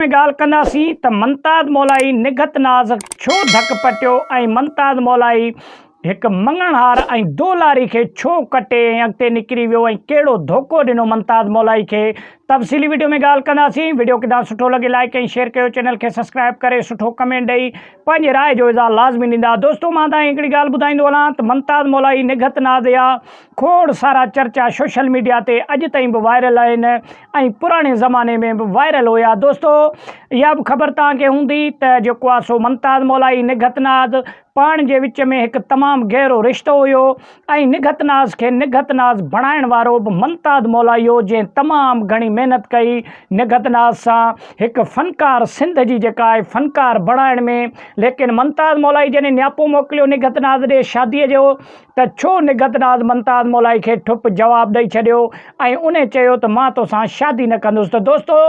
۾ ڳالهه ڪنداسين ته منتاد مولائي نگهت ناز ڇو ڌڪ پٽيو ۽ منتاد مولائي هڪ مڱڻهار ۽ دولاري کي ڇو ڪٽي ۽ اڳتي نڪري ويو ۽ ڪهڙو ڌوڪو ڏنو منتاد مولائي کي تفصيلي وڊيو ۾ ڳالهه ڪنداسين وڊيو ڪدان سٺو لڳي لائيڪ ۽ شيئر ڪيو چينل کي سبسڪرائيب ڪري سٺو ڪمينٽ ڏئي پنهنجي راء جو اظهار لازمي ڏيندا دوستو مان تهان کي هڪڙي ڳالهه ٻڌائيندو هلان ته منتاد مولائي نگهت ناز يا کوڙ سارا چرچا سوشل ميڊيا تي اڄ تائين به وائرل آهن ۽ پراڻي زماني ۾ به وائرل هيا. دوستو اها به خبر توهان کي هوندي ته جيڪو آهي سو ممتاز مولائي نگهت ناز پاڻ جي وچ ۾ هڪ تمام گهرو رشتو هيو ۽ نگهت ناز کي نگهت ناز بڻائڻ وارو به ممتاز مولائي هيو جنهن تمام گهڻي محنت ڪئي نگهت ناز سان هڪ فنڪار سنڌ جي جيڪا آهي فنڪار بڻائڻ ۾ ليڪن ممتاز مولائي جڏهن نياپو موڪليو نگهت ناز ڏي شادي جو ته ڇو نگهت ناز ممتاز مولائي کي ٺپ جواب ڏئي ڇڏيو ۽ ان چيو ته مان توسان شادي نه ڪندس ته دوستو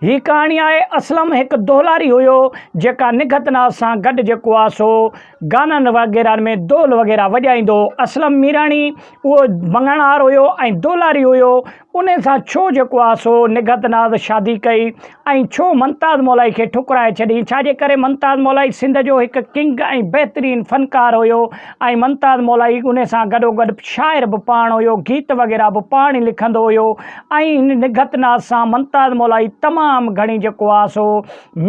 هي ڪهاڻي آهي اسلم هڪ دولاري هيو جيڪا نگهت ناز سان گڏ جيڪو آهي سو گانن وغيرهن ۾ دول وغيره وڄائيندو هو اسلم ميراڻي اهو مڱڻهار هيو ۽ دولاري هيو انهيء سان ڇو جيڪو آ سو نگهت ناز شادي ڪئي ۽ ڇو ممتاز مولائي کي ٺڪرائي ڇڏيئي؟ ڇا جي ڪري ممتاز مولائي سنڌ جو هڪ ڪنگ ۽ بهترين فنڪار هيو ۽ ممتاز مولائي انهيء سان گڏوگڏ شاعر به پاڻ هيو، گيت وغيره به پاڻ ئي لکندو هيو ۽ هن نگهت ناز سان ممتاز مولائي تمام گهڻي جيڪو آ سو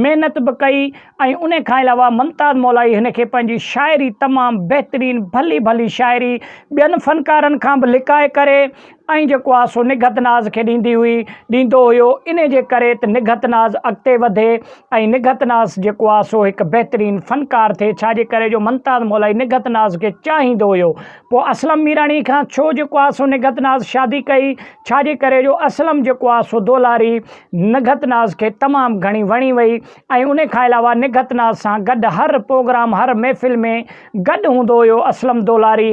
محنت به ڪئي ۽ انهيء کان علاوه ممتاز مولائي هن کي پنهنجي شاعري تمام بهترين ڀلي ڀلي شاعري ٻين فنڪارن کان به لڪائي ڪري ۽ جيڪو آ سو نگهت ناز کي ڏيندي هئي، ڏيندو هيو، انهي جي ڪري ته نگهت ناز اڳتي وڌي ۽ نگهت ناز جيڪو آ سو هڪ بهترين فنڪار ٿئي، ڇا جي ڪري جو ممتاز مولائي نگهت ناز کي چاهيندو هيو، پوء اسلم ميراڻي کان ڇو جيڪو آ سو نگهت ناز شادي ڪئي، ڇا جي ڪري جو اسلم جيڪو آ سو دولاري نگهت ناز کي تمام گهڻي وڻي وئي ۽ انهي کان علاوه نگهت ناز سان گڏ هر پروگرام هر محفل ۾ گڏ هوندو هيو، اسلم دولاري.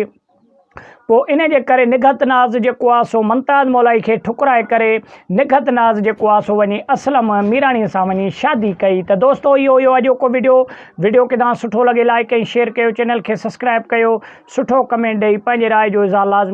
پوء ان جي ڪري نگهت ناز جيڪو آ سو ممتاز مولائي کي ٺڪرائي ڪري نگهت ناز جيڪو آ سو وڃي اسلم ميراڻي سان وڃي شادي ڪئي ته دوستو اهو هيو اڄوڪو وڊيو وڊيو ڪدان سٺو لڳي لائيڪ ۽ شيئر ڪيو چينل کي سبسڪرائيب ڪيو سٺو ڪمينٽ ڏئي پنهنجي راء جو اظهار لازمي